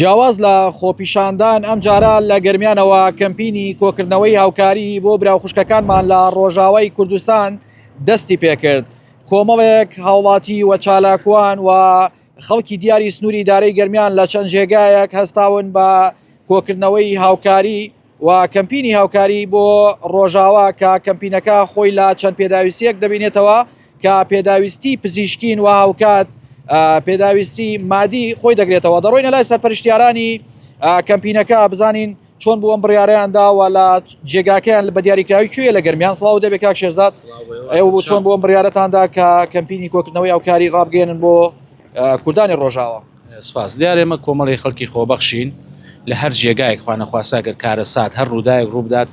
جیاواز لە خۆپیشاندان، ئەمجارە لە گەرمیانەوە کەمپینی کۆکردنەوەی هاوکاری بۆ برا و خوشکەکانمان لە ڕۆژاوای کوردستان دەستی پێکرد. کۆمەڵێک هاوڵاتی و چالاکوان و خەڵکی دیاری سنووری دارەی گەرمیان لە چەند جێگایەک هەستاون بە کۆکردنەوەی هاوکاری، و کەمپینی هاوکاری بۆ ڕۆژاوا کە کەمپینەکە خۆی لە چەند پێداویستیەک دەبینێتەوە کە پێداویستی پزیشکین و هاوکات پێداویستی مادی خۆی دەگرێتەوە دەڕۆینە لای سەرپەرشتیارانی کەمپینەکە بزانین چۆن بوو ئەم بڕیاریان داوە لە جێگاکەیان بە دیاریکراوی کوێ لە گەرمیان سڵاو دەبێ کاک شێزاد ئەو بۆ چۆن بۆم بڕیارەتاندا کە کەمپینی کۆکردنەوەی ئەوکاری ڕابگەێنن بۆ کوردانی ڕۆژاوە سپاس دیار ئێمە کۆمەڵی خەڵکی خۆبەخشین لە هەر جێگایەک خوانەخواسا گەر کارەسات هەر ڕووداەک ڕووبدات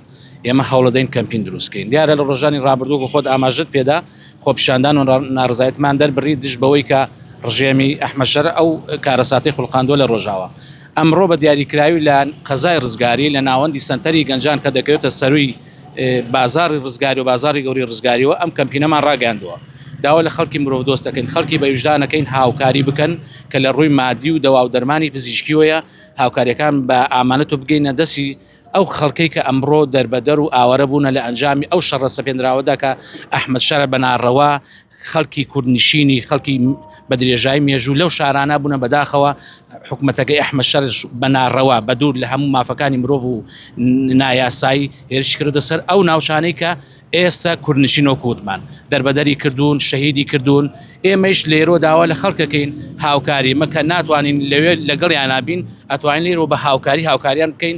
ئێمە هەوڵەدەین کەمپین دروستکەین دیارە لە ڕۆژانی ڕابردوو خۆت ئاماژت پێدا خۆپیشاندان و ناڕزایتمان دەربڕی دژ بەوەی کە ڕژێمی ئەحمەشەر ئەو کارەساتی خولقاندووە لە ڕۆژاوە ئەمڕۆ بە دیاریکراوی لە قەزای ڕزگاری لە ناوەندی سەنتەری گەنجان کە دەکەوێتە سەرووی بازاڕی ڕزگاری و بازاڕی گەورەی ڕزگاریەوە ئەم کەمپینەمان ڕاگەیاندووە داوا لە خەڵکی مرۆڤ دۆست دەکەین خەڵکی بە وژدانەکەین هاوکاری بکەن کە لە ڕووی مادی و دەوا و دەرمانی پزیشکیەوەیە هاوکاریەکان بە ئامانەت و بگەینە دەسی ئەو خەڵکەی کە ئەمڕۆ دەربەدەر و ئاوارە بوونە لە ئەنجامی ئەو شەڕە سەپێنراوەدا کە ئەحمەد شەرع بە ناڕەوا خەڵکی کوردنشینی خەڵکی بە درێژای مێژوو لەو شارانە بوونە بەداخەوە حکوومەتەکەی ئەحمە شەرش بە ناڕەوا بە دوور لە هەموو مافەکانی مرۆڤ و نایاسایی هێرش کردە سەر ئەو ناوچانەی کە ئێستا کوردنشین و کووتمان دەربەدەری کردوون شەهیدی کردوون ئێمەش لێرۆ داوا لە خەڵکەکەین هاوکاری مەکە ناتوانین لەوێ لەگەڵیان نابین ئەتوانین لێرەوە بە هاوکاری هاوکاریان بکەین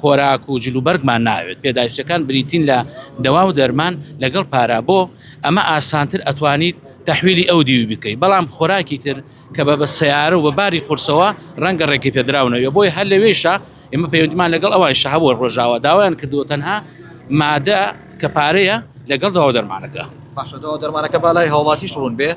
خۆراک و جلوبەرگمان ناوێت پێداویستەکان بریتین لە دەوا و دەرمان لەگەڵ پارا بۆ ئەمە ئاسانتر ئەتوانیت تەحویلی ئەو دیوی بکەی بەڵام خۆراکی تر کە بە بە سەیارە و بە باری قورسەوە ڕەنگە ڕێگەی پێدراو نەوێ بۆی هەر لەوێشە ئێمە پەیوەندیمان لەگەڵ ئەوان شەهە بۆ ڕۆژاوا داوایان کردووە تەنها مادە کە پارەیە لەگەڵ دەوا و دەرمانەکە. باشە دەوا و دەرمانەکە بالای هاوڵاتیش ڕوون بێ.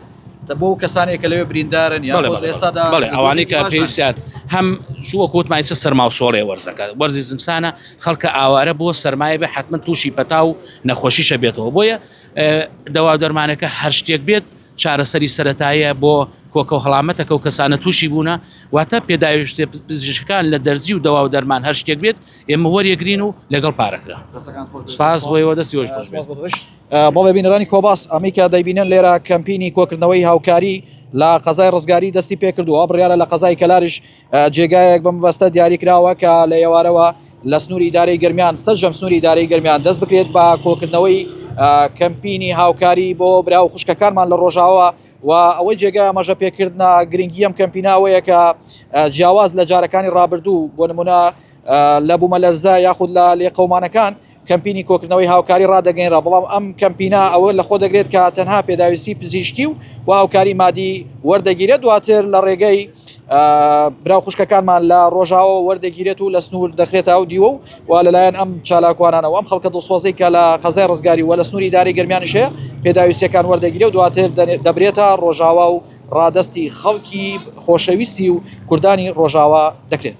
بۆ ئەو کەسانێک کە لەوێ بریندارن یا بەڵێ خۆ لە بەڵێ ئێستادا بەڵێ بەڵێ ئەوانەی کە باشن. پێویستیان هەم شووە کۆتمای چ سەرما و سۆڵێ وەرزەکە وەرزی زمسانە خەڵکە ئاوارە بۆ سەرمایە بێ حتمما تووشی پەتا و نەخۆشیشە بێتەوە بۆیە اه، دەوا و دەرمانەکە هەر شتێک بێت چارەسەری سەتایە بۆ کۆکە و هەڵامەتەکە و کەسانە تووشی بوونە واتە پێداویشتێ پزیشکان لە دەرزی و دەوا و دەرمان هەر شتێک بێت ئێمە وەریەگرین و لەگەڵ پارەکە دەستەکان خۆش بێت. سپاس بۆ ئێوە دەستی خۆش بێت. سپاس بۆ تۆش. بەڵێ بینەرانی کۆباس ئەمەی کە دەیبینن لێرە کەمپینی کۆکردنەوەی هاوکاری لە قەزای ڕزگاری دەستی پێکردووە بڕیاە لە قەزای کەلاریش جێگایەک بەم بەستە دیاری کراوە کە لە ئێوارەوە لە سنووری دارەی گرمیان سەرجەم سنووری دارەی گرمیان دەست بکرێت بە کۆکردنەوەی کەمپینی هاوکاری بۆ برا و خوشکەکانمان لە ڕۆژاوە و ئەوەی جێگای ئەمەژە پێکردە گرنگیم کەمپیناوەیە کە جیاواز لە جارەکانی ڕابردوو بۆ نمونە لە بوومەلەرزە یاخود لە لێقەومانەکان کەمپینی کۆکردنەوەی هاوکاری ڕدەگەینرا بەڵام ئەم کەمپینا ئەوە لە خۆ دەگرێت کە تەنها پێداویستی پزیشکی و و هاوکاری مادی وەردەگیرێت دواتر لە ڕێگەی برا خوشکەکانمان لە ڕۆژاوە وەردەگیرێت و لە سنوور دەخرێتە ئەو دیوە و و لەلایەن ئەم چالاکوانانەوە ئەم خەڵکە دڵسۆزەی کە لە قەزای ڕزگاری و لە سنووری داری گەرمیانیشێ پێداویستەکان وەردەگیرێ و دواتر دەبرێتە ڕۆژاوا و ڕادستی خەڵکی خۆشەویستی و کوردانی ڕۆژاوا دەکرێت.